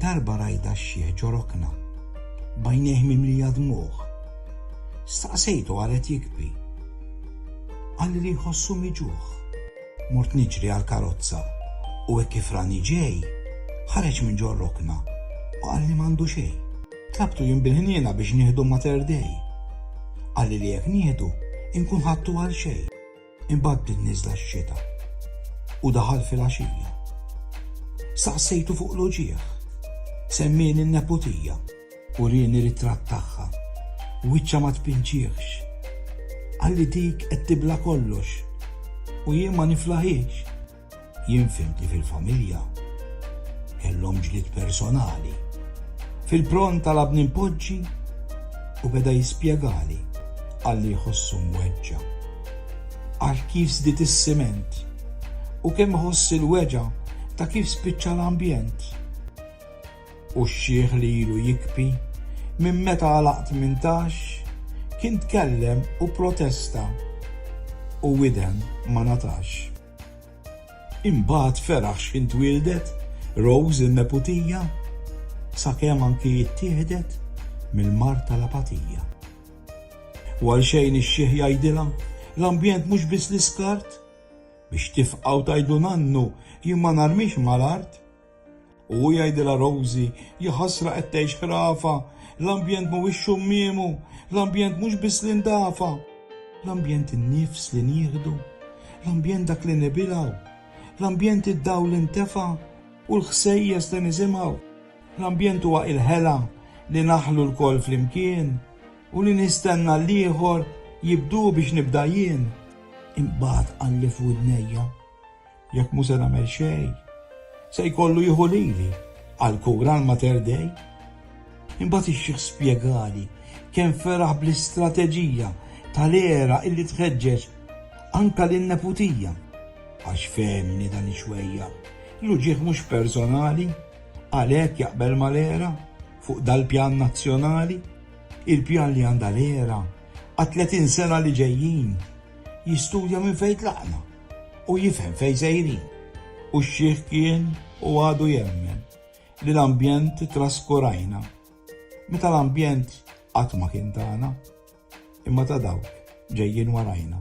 Darba rajda xieħ ġorokna, bajneħ mimli jadmuħ. Staqsejtu għalet jikbi. Għalli li jħossu miġuħ. Mort niġri għal karozza u hekk kif rani ġej, ħareġ minn ġorokna u għalli mandu xej. Tlabtu jien bil biex nieħdu materdej. Għalli li jekk nieħdu, inkun ħattu għal xej. Imbagħad bdiet niżla x-xita u daħal filgħaxija. Staqsejtu fuq l-uġigħ. Semmieni n-neputija. Urieni ritratt tagħha. Wiċċha ma tpinġieħx. Qalli dik qed tibla' kollox u jien ma niflaħiex. Jien fhimt li fil-familja kellhom ġlied personali. Fil-pront talabni npoġġi u beda jispjegali għalli jħossu mweġġa'. Għal kif żdied is-siment u kemm iħoss il-weġgħa ta' kif spiċċa l-ambjent. U x-xiħ li ilu jikbi minn meta għalaq tmintax kien tkellem u protesta u widen ma ngħatax. Imbagħad feraħ x'ħin twieldet Rose in-neputija, sakemm anki ittieħdet mill-mard tal-apatija. U għal xejn ix-xiħ jgħidilha, l-ambjent mhux biss l-iskart, biex tifqgħu tgħidu nannu jien ma narmix mal-art, U hu jgħidilha Rosie, Jaħasra qed tgħix ħrafa, l-ambjent mhuwiex xummiemu, l-ambjent mhux biss li ndafa, l-ambjent in-nifs li nieħdu, l-ambjent dak li nibilgħu, l-ambjent id-dawl li ntefa' u l-ħsejjes li nisimgħu, l-ambjent huwa il-ħela li naħlu lkoll flimkien u li nistenna l-ieħor jibdu biex nibda jien. Imbagħad qalli f'widnejja, Jekk mhu se nagħmel xejn, se jkollu jieħu lili għall-kura l-Mater Dei. Imbagħad ix-xiħ spjegali kemm feraħ bl-istrateġija tal-għera illi tħeġġeġ anke lin-neputija, għax fehemni dan ix-xwejjar, l-uġigħ mhux personali, għalhekk jaqbel mal-għera fuq dal-pjan nazzjonali, il-pjan li għandha l-għera għat-30 sena li ġejjin, jistudja minn fejn tlaqna. u jifhem fejn sejrin, u x-xiħ kien u għadu jemmen li l-ambjent traskurajna, meta l-ambjent qatt ma kien tagħna, imma ta' dawk ġejjin warajna.